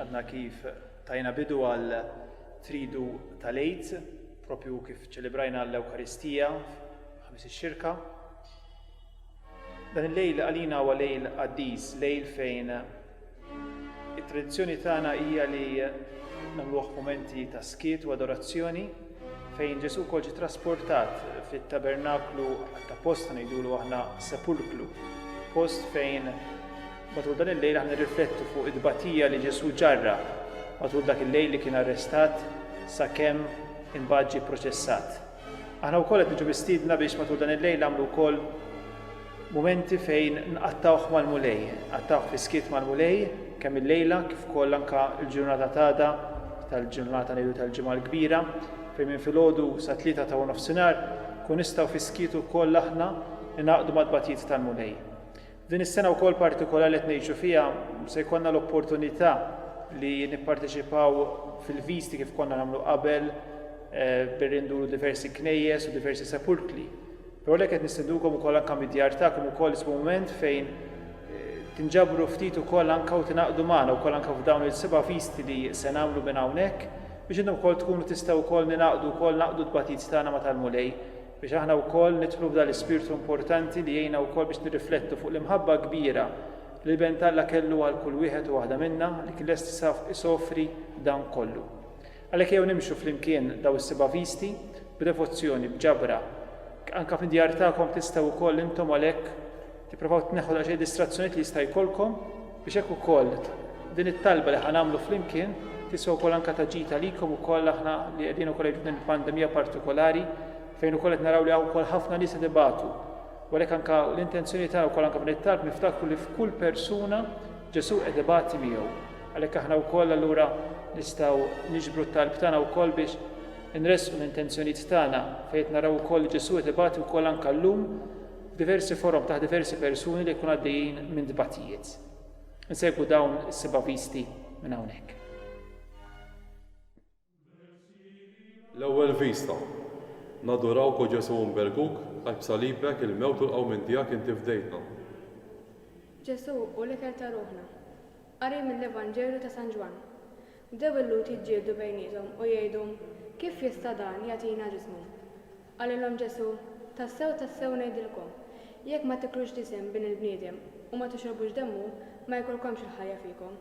Għadna kif tajna bidu għal tridu tal-Eid, propju kif ċelebrajna l-Ewkaristija, ħamis xirka Dan il-lejl għalina huwa lejl qaddis, lejl fejn It-tradizzjoni tagħna hija li nagħmluh f'mumenti ta' skiet u adorazzjoni fejn Ġesù wkoll ġie trasportat fit-tabernaklu ta' post ngħidulu aħna sepulklu, post fejn matul dan il-lejl aħna nirriflettu fuq it-tbatija li Ġesù ġarra matul dak il-lejl li kien arrestat sakemm imbagħad ġie proċessat. Aħna wkoll qed niġu mistiedna biex matul dan il-lejl nagħmlu wkoll mumenti fejn nqattgħuh mal-Mulej, nqattgħuh fis-skiet mal-Mulej kemm il-lejla kif ukoll anke l-ġurnata t'għada tal-ġurnata ngħidu tal-Ġimgħa l-Kbira fejn minn filgħodu sa tlieta ta' nofsinhar kun nistgħu fis-skiet ukoll aħna ningħaqdu mat-tbatijiet tal-Mulej. Din is-sena wkoll partikolari li qed ngħixu fiha se jkollna l-opportunità li nipparteċipaw fil-viżti kif konna nagħmlu qabel billi nduru diversi knejjes u diversi sepulkli. Però lek qed nistendukom ukoll anke mid-djar tagħkom ukoll ismu mument fejn tinġabru ftit ukoll anke u tingħaqdu magħna wkoll anke f'dawn il-seba' viżti li se nagħmlu minn hawnhekk biex intom ukoll tkunu tistgħu wkoll ningħaqdu wkoll naqdu t-tbatij tagħna ma' tal-Mulej Biex aħna wkoll nidħlu f'dan l-ispirtu importanti li jgħinna wkoll biex nirriflettu fuq l-imħabba kbira li l-Benn t'Alla kellu għal kull wieħed u waħda minna li kien lest isofri dan kollu. Għalhekk ejjew nimxu flimkien daw is-seba' visti b'devozzjoni, b'ġabra. Anke fid-djar tagħkom tistgħu wkoll intom għalhekk Tipprovaw tneħħu daqsxejn distrazzjonijiet li jista' jkollkom biex hekk ukoll din it-talba li ħa nagħmlu flimkien tiswa wkoll anke ta' ġid għalikom ukoll aħna li qegħdin ukoll għajdu din il-pandemija partikolari fejn ukoll qed naraw li hawn ukoll ħafna nies qed ibatu. U għalhekk anke l-intenzjoni tagħna wkoll anke f'dan it-talb niftakru li f'kull persuna Ġesù qed ibati miegħu. Għalhekk aħna wkoll allura nistgħu niġbru t-talb tagħna wkoll biex inresqu l-intenzjonijiet tagħna fejn naraw ukoll li Ġesù qed ibati wkoll anke llum f'diversi forom taħt diversi persuni li jkunu għaddejjin minn tbatijiet. Insegwu dawn is-seba' visti minn hawnhekk. L-ewwel vista. Nadurawk, O Ġesù Umberguk, għax b'salibek, il-mewt u l-qawmien tiegħek inti fdejtna. Ġesù hu l-ikel ta' ruħna. Qari mill-Evanġelju ta' San Ġwann. Bdew il-Lhud jiġġieldu bejniethom u jgħidu, Kif jista' dan jagħtina ġismu? Qalilhom Ġesù, Tassew, tassew ngħidilkom, jekk ma tiklux ġisem Bin il-bniedem u ma tixrobux demmu, ma jkollkomx il-ħajja fikom.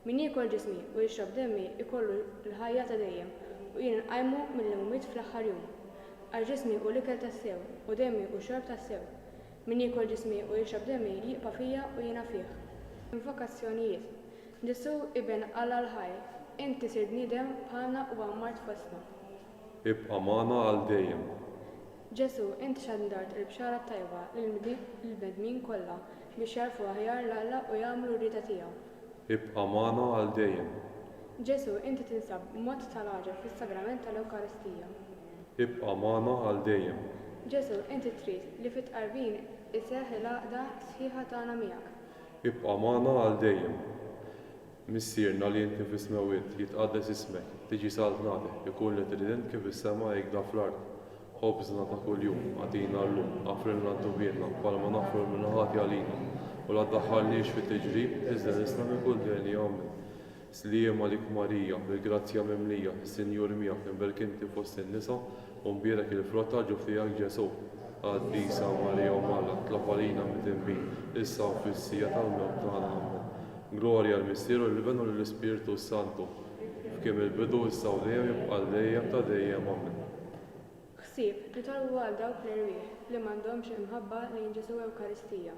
Min jiekol ġismi u jixrob demmi jkollu l-ħajja ta' dejjem u jien inqajmu mill-imwiet fl-aħħar jum. Għax ġismi hu l-ikel tassew u demmi hu xorb tassew. Min jiekol ġismi u jixrob demmi jibqa' fija u jiena fih. Invokazzjonijiet, Ġesù, Iben Alla l-ħaj, inti sirt bniedem bħalna u għammart fostna. Ibqa' magħna għal dejjem. Ġesù, inti xandart il-bxara t-tajba lill-bnedmin kollha biex jagħrfu aħjar 'l Alla u jagħmlu r-rieda tiegħu. Ibqa' magħna għal dejjem. Ġesù, inti tinsab b'mod ta' l-għaġeb fis-sagrament ta' l-Ewkaristija. Ibqa' magħna għal dejjem. Ġesù, inti trid li fit-tqarbin iseħħ il-għaqda sħiħa tagħna miegħek. Ibqa' magħna għal dejjem. Missierna li inti fis-smewwiet, jitqaddes ismek, tiġi saltnatek, ikun li trident kif is-sema hekk da fl-art. Ħobżna ta' kuljum, agħtina llum, aghfrilna d-dubienna, bħalma naghfru l-min iħati għalina, u la ddaħħalniex fi tiġrib, iżda nislamik u dnejni. Amen. Sliem għalik Marija, bil-grazzja mimlija, is-Sinjur miegħek, imberk inti fost in-nisa, u mbierek il-frott ta' ġufijak Ġesù. Qaddisa Marija Omm Alla, tlab għalina midinbin, issa u fis-siegħa tal-mewt tagħna. Ammen. Glorja l-Missier u l-Iben u lill-Ispirtu s-Santu, f'kim il-bidu, issa u dejjem, jibqa' għal dejjem ta' dejjem. Ammen. Ħsieb, nitolbu għal dawk l-erwieħ li m'għandhomx il-mħabba lejn Ġesù Ewkaristija,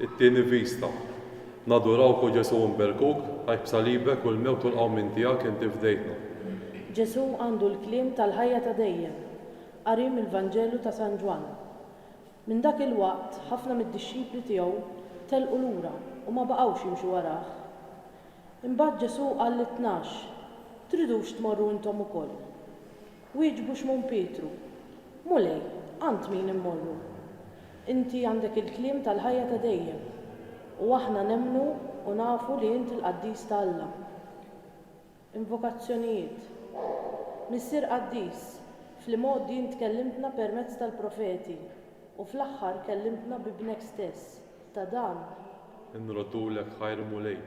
It-Tieni Vista. Nadurawk, O Ġesù Imberkuk, għax b'salibek u l-mewt u l-qawmien tiegħek inti fdejtna. Ġesù għandu l-kliem tal-ħajja ta' dejjem. Qari mill-Vanġelu ta' San Ġwann. Minn dak il-waqt ħafna mid-dixxipli tiegħu telqu lura u ma baqgħux jimxu warah. Imbagħad Ġesù qal lit-tnax, Tridux tmorru intom ukoll? Wieġbu Xmun Pietru, Mulej, għand min immorru? Inti għandek il-kliem tal-ħajja ta' dejjem, u aħna nemmnu u nafu li int il-qaddis ta' Alla. Invokazzjonijiet Missier qaddis, fl-imgħoddi int kellimtna permezz tal-profeti, u fl-aħħar kellimtna b'Ibnek stess. Ta' dan. Inroddulek ħajr, Mulej.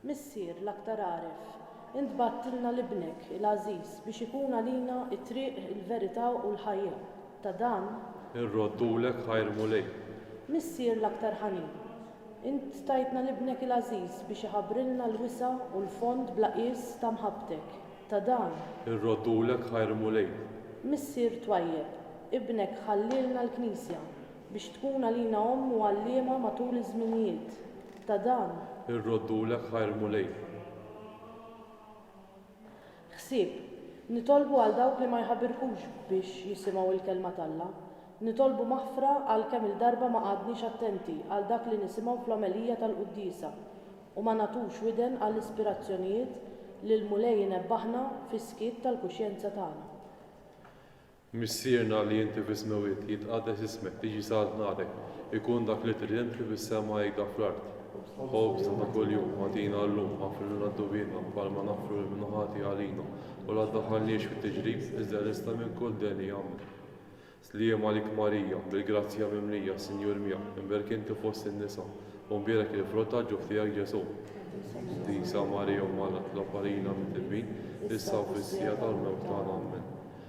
Missier l-aktar għaref, int bgħattilna 'l Ibnek il-għażiż biex ikun għalina t-triq, il-verità u l-ħajja. Ta' dan. Irroddulek ħajr Mulej. Missier l-aktar ħanin, int tajtna 'l Ibnek il-għażiż biex iħabbrilna l-wisa' u l-fond bla qies ta' mħabbtek. Ta' dan. Irroddulek ħajr Mulej. Missier twajjeb, Ibnek ħallielna l-Knisja biex tkun għalina omm u għalliema matul iż-żminijiet. ta' dan. Irroddulek ħajr Mulej. Ħsieb, Nitolbu għal dawk li ma jħabirkux biex jisimgħu l-Kelma t'Alla. Nitolbu maħfra għal kemm-il darba ma qgħadniex attenti għal dak li nisimgħu fl-omelija tal-quddiesa u ma nagħtux widen għall-ispirazzjonijiet li l-Mulej inebbahna fis-skiet tal-kuxjenza tagħna. Missierna li inti fis-smewwiet, jitqaddes ismek, tiġi saħaq narek, ikun dak li trid inti fis-sema hekk dak fl-art. Ħobżna ta' kuljum agħtina llum, aghfirlna d-dnubietna, bħalma naghfru lil min hu ħati għalina, u la ddaħħalniex fit-tiġrib, iżda errisna minn kull deni. Amen. Sliem għalik Marija, bil-grazzja mimlija, s-Sinjur miegħek, imberk inti fost in-nisa, u mbierek il-frott tal-ġuf tiegħek Ġesù. Qdisa Marija Omm Alla, tlob għalina mitdbin, issa u fis-siegħa tal-mewt tagħna. Amen.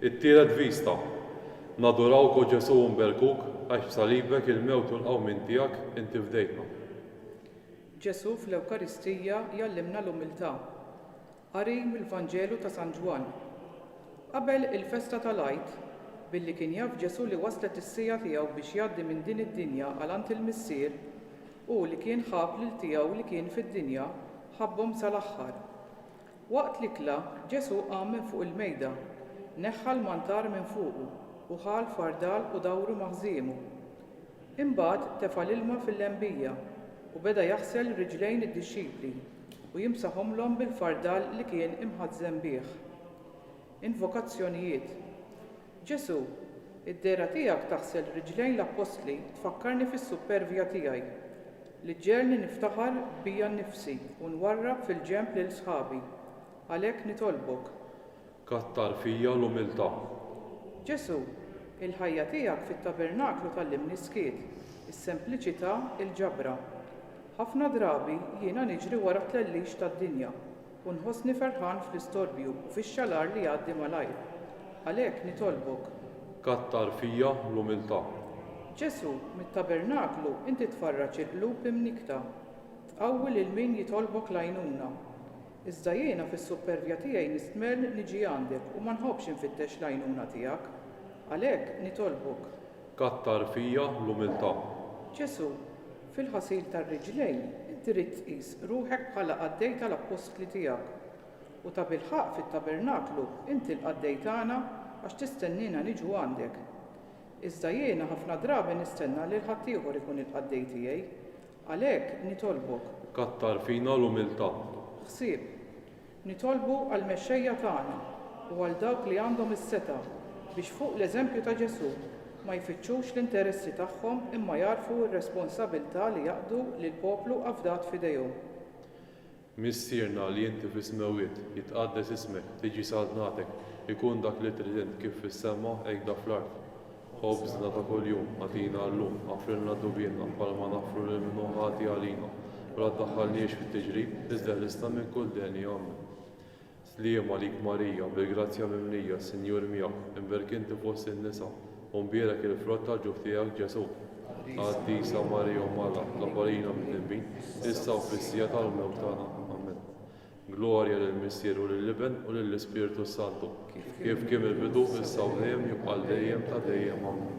It-tielet vista. Nadurawk o Ġesu nberkuk għax b'salibek il-mewt u l-qawmien tiegħek inti fdejtna. Ġesu fl-Ewkaristija jgħallimna l-umiltà. Qari mill-Vanġelu ta' San Ġwann. Qabel il-festa tal-Għid, billi kien jaf Ġesu li waslet is-siegħa tiegħu biex jgħaddi minn din id-dinja għal għand il-Missier, hu li kien ħab lil tiegħu li kien fid-dinja ħabbhom sal-aħħar. Waqt l-ikla, Ġesù qam minn fuq il-mejda, neħħa l-mantar minn fuqu, u ħa l-fardal u dawru ma' ħżiemu. Imbagħad tefa' l-ilma fil-lembija, u beda jaħsel riġlejn id-dixxipli, u jimsaħhomlhom bil-fardal li kien imħazzem bih. Invokazzjonijiet Ġesù, id-dehra tiegħek taħsel riġlejn l-appostli tfakkarni fis-suppervja tiegħi, li ġġegħelni niftaħar bija nnifsi u nwarrab fil-ġenb lil sħabi. Għalhekk nitolbok. Kattar fija l-umiltà. Ġesù, il-ħajja tiegħek fit-tabernaklu tgħallimni s-skiet, is-sempliċità, il-ġabra. Ħafna drabi jiena niġri wara t-tlellix tad-dinja, u nħossni ferħan fl-istorbju u fix-xalar li jgħaddi malajr. Għalhekk nitolbok. Kattar fija l-umiltà. Ġesù, mit-tabernaklu inti tfarraġ il-qlub imnikkta. Tqawwi lil min jitolbok l-għajnuna. Iżda jiena fis-suppervja tiegħi nistmerr niġi għandek u ma nħobbx infittex l-għajnuna tiegħek. Għalhekk nitolbok. Kattar fija l-umiltà. Ġesù, Fil-ħasil tar-riġlejn, inti rrid tqis ruħek bħala qaddej tal-appostli tiegħek. U tabilħaqq fit-tabernaklu inti l-qaddej tagħna għax tistenniena niġu għandek. Iżda jiena ħafna drabi nistenna lil ħaddieħor ikun il-qaddej tiegħi. Għalhekk, nitolbok. Kattar fina l-umiltà. Ħsieb. Nitolbu għall-mexxejja tagħna u għal dawk li għandhom is-setgħa biex fuq l-eżempju ta' Ġesù ma jfittxux l-interessi tagħhom imma jagħrfu r-responsabilità li jaqdu lill-poplu afdat f'idejhom. Missierna li inti fis-smewwiet, jitqaddes ismek, tiġi saltnatek, ikun dak li trid int kif fis-sema hekk da fl-art. Ħobżna ta' kuljum agħtina llum, aħfrilna dnubiena bħalma naħfru lil min hu ħati għalina, u la ddaħħalniex fit-tiġrib, iżda ħlisna minn kull deni. Ammen. Sliem għalik Marija, bil-grazzja mimlija, s-Sinjur miegħek, imberk inti fost in-nisa, u mbierek il-frott tal-ġuf tiegħek Ġesù. Qaddisa Marija Omm Alla, tlob għalina midnbin, issa u fis-siegħa tal-mewt tagħna. Ammen. Glorja lill-Missier u lill-Iben u lill-Ispirtu s-Santu, kif kien mill-bidu, issa u dejjem, jibqa' għal dejjem ta' dejjem. Amen.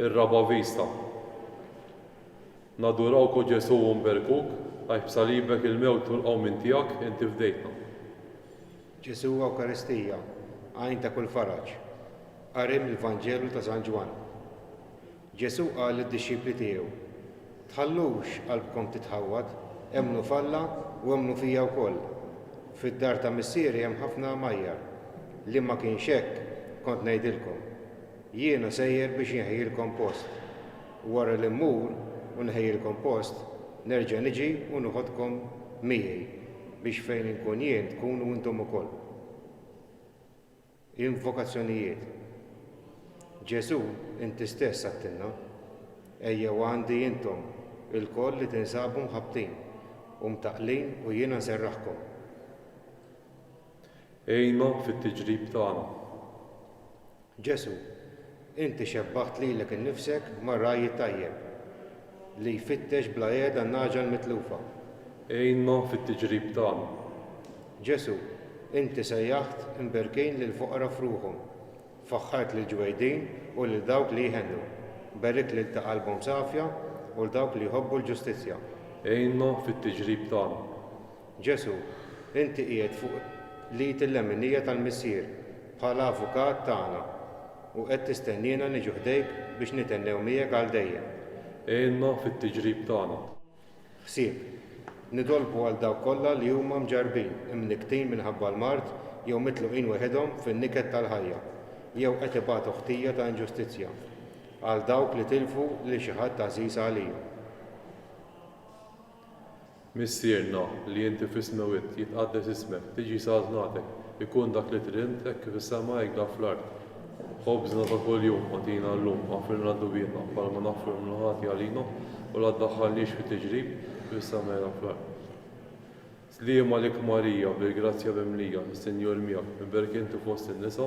Ir-raba' vista. Nadurawk o Ġesù u nberkuk, għax b'salibek, il-mewt u l-qawmien tiegħek, inti fdejtna. Ġesù Ewkaristija, għajn ta' kull faraġ. Qari mill-Vanġelu ta' San Ġwann. Ġesù qal lid-dixxipli tiegħu, Tħallux qalbkom titħawwad, emmnu f'Alla u emmnu fija wkoll. Fid-dar ta' Missieri hemm ħafna għamajjar, li ma kienx hekk, kont ngħidilkom. Jiena sejjer biex inħejjilkom post. Wara li mmur u nħejjilkom post, nerġa' niġi u noħodkom miegħi, biex fejn inkun jien tkunu intom ukoll. Invokazzjonijiet Ġesù, inti stess għidtilna, Ejjew għandi intom ilkoll li tinsabu mħabbtin u mtaqqlin u jiena nserraħkom. Għinna fit-tiġrib tagħna. Ġesù, Inti xebbaħt lilek innifsek mar-ragħaj it-tajjeb, li jfittex bla qiegħda n-nagħġa l-mitlufa. Għinna fit-tiġrib tagħna. Ġesù, Inti sejjaħt imberkin lill-foqra f'ruħhom. Faħħart lill-ġwejdin u lil dawk li jħennu. Berikt lil ta' qalbhom safja u 'l dawk li jħobbu l-ġustizzja. Għinna fit-tiġrib tagħna. Ġesù, inti qiegħed fuq l-id il-leminija tal-Missier bħala Avukat tagħna u qed tistenniena niġu ħdejk biex nithennew miegħek għal dejjem. Għinna fit-tiġrib tagħna. Ħsieb. Nitolbu għal dawk kollha li huma mġarrbin, imnikktin minħabba l-mard jew mitluqin weħidhom fin-niket tal-ħajja, jew qed ibatu ħtija ta' inġustizzja. Għal dawk li tilfu lil xi ħadd għażiż għalihom. Missierna, li inti fis-smewit, jitqaddes ismek, tiġi saltnatek, ikun dak li trimt hekk kif fis-sema hekk dan fl-art. Ħobżna ta' kuljum agħtina llum, aħfrilna dnubietna, bħalma naħfru l-mulħati għalina, u la ddaħħalniex fi tiġrib, kif issemmejna fl-art. Sliem għalik Marija, bil-grazzja mimlija, is-Sinjur miegħek, miberkinti fost in-nisa,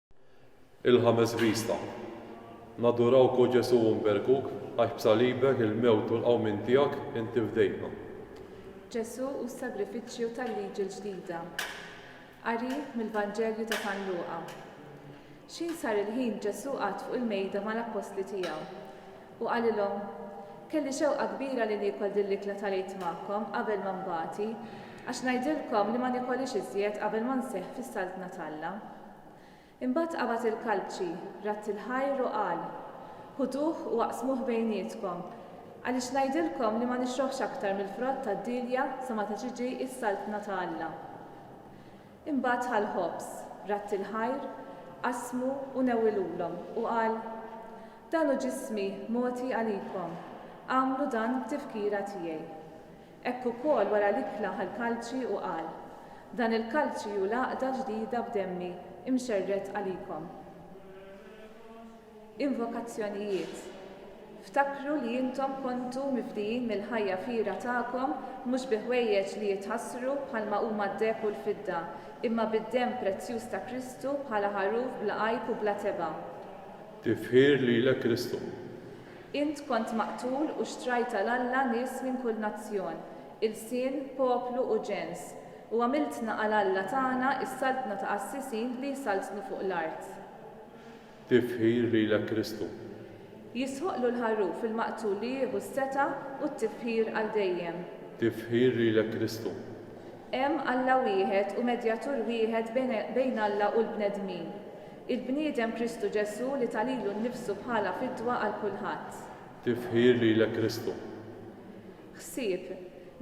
Il-ħames vista. Nadurawk o Ġesu u nberkuk, għax b'salibek, il-mewt u l-qawmien tiegħek, inti fdejtna. Ġesu u s-sagrifiċċju tal-Liġi l-Ġdida. Qari mill-Vanġelju ta' San Luqa. X'ħin sar il-ħin Ġesu qagħad fuq il-mejda mal-appostli tiegħu. U qalilhom, Kelli xewqa kbira li niekol din l-ikla tal-Għid magħkom qabel ma nbati, għax ngħidilkom li ma nikolhiex iżjed qabel ma nseħħ fis-Saltna t'Alla. Imbagħad qabad il-kalbċi, radd il-ħajr u qal, Ħuduh u aqsmuh bejnietkom, għaliex ngħidilkom li ma nixroħx aktar mill-frott tad-dielja sa meta tiġi s-Saltna ta' Alla. Imbagħad ħa l-ħobż, radd il-ħajr, qasmu u newwilulhom, u qal, Dan hu ġismi mogħti għalikom, agħmlu dan b'tifkira tiegħi. Hekk ukoll wara l-ikla ħa l-kalċi u qal, Dan il-kalċi hu l-għaqda ġdida b'demmi mxerred għalikom. Invokazzjonijiet Ftakru li intom kontu mifdijin mill-ħajja fqira tagħkom mhux bi ħwejjeġ li jitħassru bħalma huma d-deheb u l-fidda, imma bid-demm prezzjuż ta' Kristu bħala ħaruf bla għajb u bla tebgħa. Tifħir lilek Kristu. Int kont maqtul u xtrajt għal Alla nies minn kull nazzjon, ilsien, poplu u ġens, u għamiltna għal Alla tagħna s-saltna ta' qassisin li jsaltnu fuq l-art. Tifħir lilek Kristu. Jistħoqqlu l-Ħaruf il-Maqtul li jieħu s-setgħa u t-tifħir għal dejjem. Tifħir lilek Kristu. Hemm Alla wieħed u medjatur wieħed bejn Alla u l-bnedmin. Il-bniedem Kristu Ġesù li ta lilu nnifsu bħala fidwa għal kulħadd. Tifħir lilek Kristu. Ħsieb,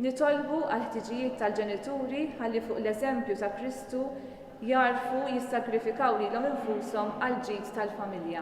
Nitolbu għall-ħtiġijiet tal-ġenituri ħalli fuq l-eżempju ta' Kristu jagħrfu jissagrifikaw lilhom infushom għall-ġid tal-familja.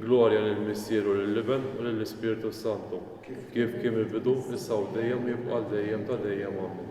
Glorja lill-Missier u lill-Iben u lill-Ispirtu s-Santu, kif kien mill-bidu, issa u dejjem u jibqa' għal dejjem ta' dejjem. Amen.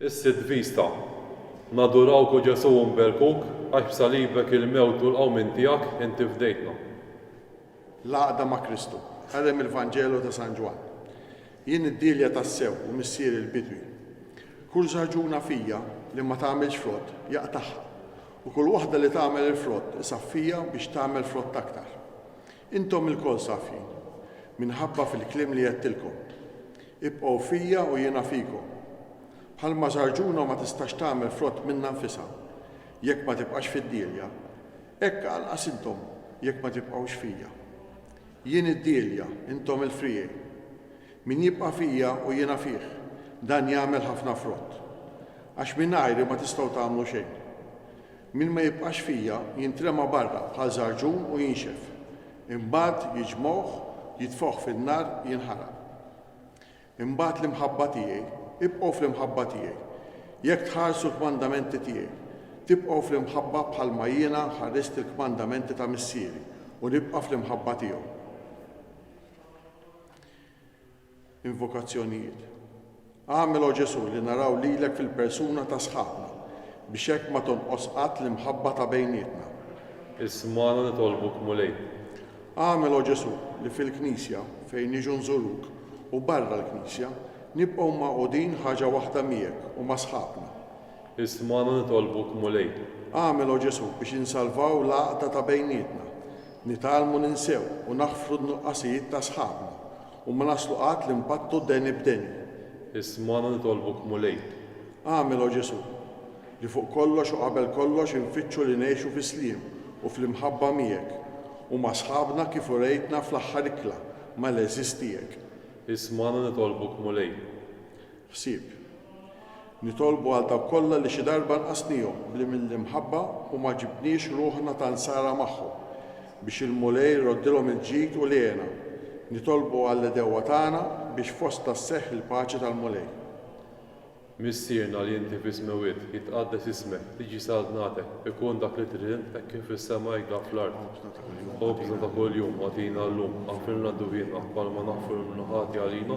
Is-sitt vista. Nadurawk o Ġesù u nberkuk, għax b'salibek, il-mewt u l-qawmien tiegħek, inti fdejtna. L-għaqda ma' Kristu. Qari mill-Vanġelu ta' San Ġwann. Jien id-dielja tassew u missieri l-bidwi. Kull żagħżugħna fija li ma tagħmilx frott, jaqtagħha, u kull waħda li tagħmel il-frott isaffija biex tagħmel frott aktar. Intom ilkoll safjin, minħabba fil-kliem li għedtilkom. Ibqgħu fija u jiena fikom. Bħalma żarġuna ma tistax tagħmel frott minnha nfisha, jekk ma tibqax fid-dielja, hekk anqas intom jekk ma tibqgħux fija. Jien id-dielja, intom il-friegħi. Min jibqa' fija u jiena fih, dan jagħmel ħafna frott. Għax mingħajri ma tistgħu tagħmlu xejn. Min ma jibqax fija jintrema barra bħal żarġun u jinxef. Imbagħad jiġmgħuh, jitfgħuh fin-nar jinħaraq. Imbagħad l-imħabba tiegħi, ibqgħu fl-imħabba tiegħi. Jekk tħarsu l-kmandamenti tiegħi, tibqgħu fl-imħabba bħalma jiena ħarist il-kmandamenti ta' Missieri u nibqa' fl-imħabba tiegħu. Invokazzjonijiet Agħmel, O Ġesù, li naraw lilek fil-persuna ta' sħabna, biex hekk ma tonqos qatt l-imħabba ta' bejnietna. Ismagħna nitolbuk, Mulej. Agħmel, O Ġesù, li fil-Knisja, fejn niġu nżuruk, u barra l-Knisja, nibqgħu magħqudin ħaġa waħda miegħek u ma' sħabna. Ismagħna nitolbuk, Mulej. Agħmel, O Ġesù, biex insalvaw l-għaqda ta' bejnietna, nitgħallmu ninsew u naħfru n-nuqqasijiet ta' sħabna, U ma naslu qatt li npattu deni b'deni. Ismagħna nitolbuk Mulej. Agħmel, O Ġesù, li fuq kollox u qabel kollox infittxu li ngħixu fi sliem u fl-imħabba miegħek u ma' sħabna kif urejtna fl-aħħar ikla mal-għeżież tiegħek. Ismagħna nitolbuk Mulej. ħsieb. Nitolbu għal dawk kollha li xi darba nqasnihom b'li mill-imħabba u ma ġibniex ruħna ta' nsara magħhom, biex il-Mulej iroddilhom il-ġid u l-hena. Nitolbu għall-għedewwa tagħna biex fostna sseħħ il-paċi tal-Mulej. Missierna li inti fis-smewwiet, jitqaddes ismek, tiġi saltnatek, ikun dak li trid int hekk kif fis-sema hekk dak fl-art. Ħobżna ta' kuljum agħtina llum, aħfrilna d-dwbienna, bħalma naħfru l-imnu ħati għalina,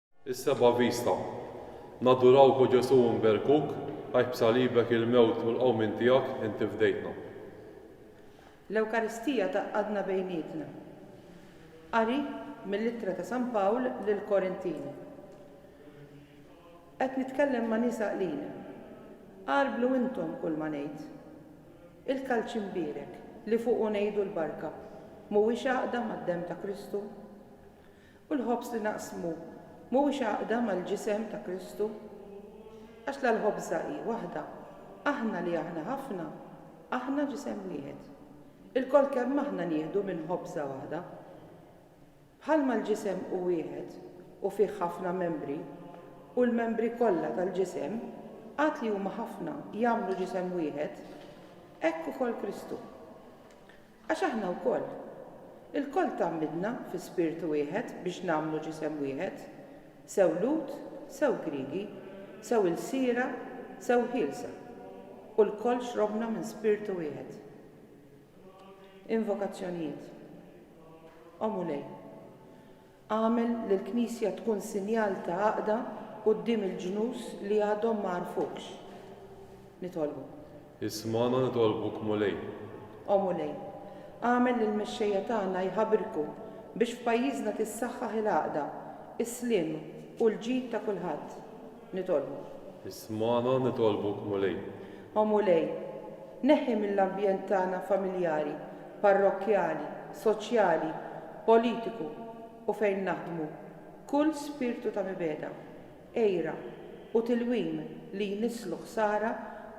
Is-seba' vista. Nadurawk, O Ġesù, u nberkuk, għax b'salibek, il-mewt u l-qawmien tiegħek, inti fdejtna. L-Ewkaristija tgħaqqadna bejnietna. Qari mill-Ittra ta' San Pawl lill-Korintini. Qed nitkellem ma' nies għaqlin. Għarblu intom kulma ngħid. Il-kalċ imbierek, li fuqu ngħidu l-barka, mhuwiex għaqda mad-demm ta' Kristu? U l-ħobż li naqsmu mhuwiex għaqda mal-Ġisem ta' Kristu? Għax la l-ħobża hi waħda, aħna li aħna ħafna, aħna Ġisem wieħed. Ilkoll kemm aħna nieħdu minn ħobża waħda. Bħalma l-Ġisem hu wieħed u fih ħafna membri, u l-membri kollha tal-Ġisem, għad li huma ħafna, jagħmlu Ġisem wieħed, hekk ukoll Kristu. Għax aħna wkoll. Ilkoll tgħammidna fi spirtu wieħed biex nagħmlu ġisem wieħed, sew Lhud, sew Griegi, sew ilsiera, sew ħielsa, u lkoll xrobna minn spirtu wieħed. Invokazzjonijiet. O Mulej. Agħmel lill-Knisja tkun sinjal ta' għaqda quddiem il-ġnus li għadhom ma għarfukx. Nitolbu. Ismagħna nitolbuk, Mulej. O Mulej, agħmel lill-mexxejja tagħna jħabrku biex f'pajjiżna tissaħħaħ il-għaqda, is-sliem u l-ġid ta' kulħadd. Nitolbu. Ismagħna nitolbuk Mulej. O Mulej, neħħi mill-ambjent tagħna familjari, parrokkjali, soċjali, politiku u fejn naħdmu kull spirtu ta' mibegħda, għira, u tilwim li jnisslu ħsara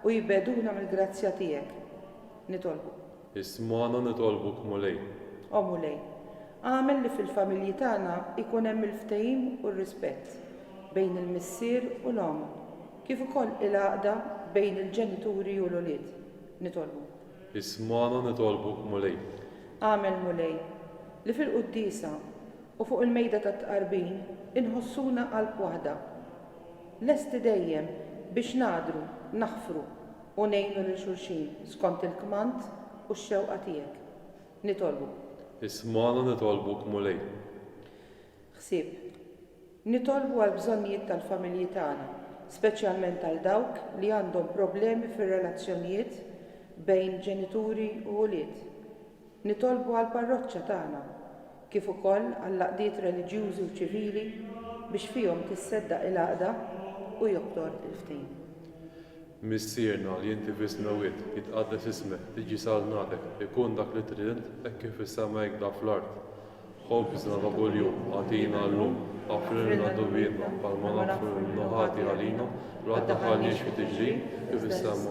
u jbegħduna mill-grazzja tiegħek. Nitolbu. Ismagħna nitolbuk Mulej. O Mulej, agħmel li fil-familji tagħna jkun hemm il-ftehim u r-rispett bejn il-missier u l-omm, kif ukoll il-għaqda bejn il-ġenituri u l-ulied. Nitolbuk. Ismagħna nitolbuk Mulej. Agħmel Mulej, li fil-quddiesa u fuq il-mejda tat-tqarbin inħossuna qalb waħda, lesti dejjem biex nagħdru, naħfru, u ngħinu lil xulxin skont il-kmand u x-xewqa tiegħek. Nitolbuk. Ismagħna nitolbuk, Mulej. Ħsieb. Nitolbu għall-bżonnijiet tal-familji tagħna, speċjalment għal dawk li għandhom problemi fir-relazzjonijiet bejn ġenituri u ulied. Nitolbu għall-parroċċa tagħna, kif ukoll għall-għaqdiet reliġjużi u ċivili biex fihom tisseddaq il-għaqda u joktor il-ftehim. Missierna li inti fis-Smewwiet, jitqaddes ismek, tiġi saltnatek, ikun dak li trid int hekk kif fis-sema hekk da fl-art. Ħobżna ta' kuljum, agħtina llum, aħfrilna dnubietna, bħalma naħfru lil min hu ħati għalina, la ddaħħalniex fi tiġrib, kif is-sema.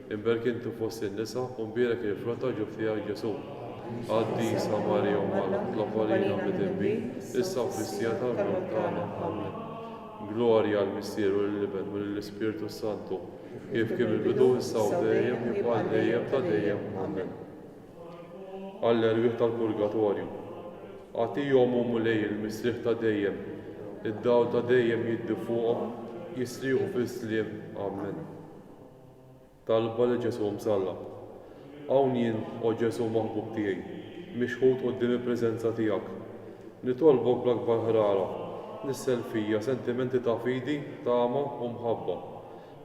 Imberk inti fost in-nisa u mbierek il-frott ġuf tiegħek Ġesù. Qaddisa Marija Omm Alla, itlob għalina midinbin, issa u fis-siegħa tal-mewt tagħna. Ammen. Glorja għall-Missier u lill-Iben u lill-Ispirtu s-Santu, kif kien mill-bidu, issa u dejjem, kif għal dejjem ta' dejjem. Ammen. Għall-erwieħ tal-purgatorju. Agħtihom u Mulej il-mistrieħ ta' dejjem, id-dawl ta' dejjem jiddi fuqhom, jistrieħu fis-sliem. Ammen. Talba lil Ġesù msallab. Hawn jien, O Ġesù maħbub tiegħi, mixħut quddiem il-preżenza tiegħek. Nitolbok bl-akbar ħrara, nissel fija sentimenti ta' fidi, tama, u mħabba,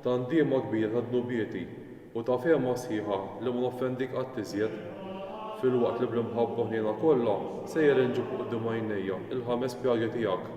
ta' ndiema kbira ta' dnubieti, u ta' fehma sħiħa li ma noffendik qatt iżjed, filwaqt li bl-imħabba ħniena kollha sejjer inġib quddiem għajnejja l-ħames pjagi tiegħek.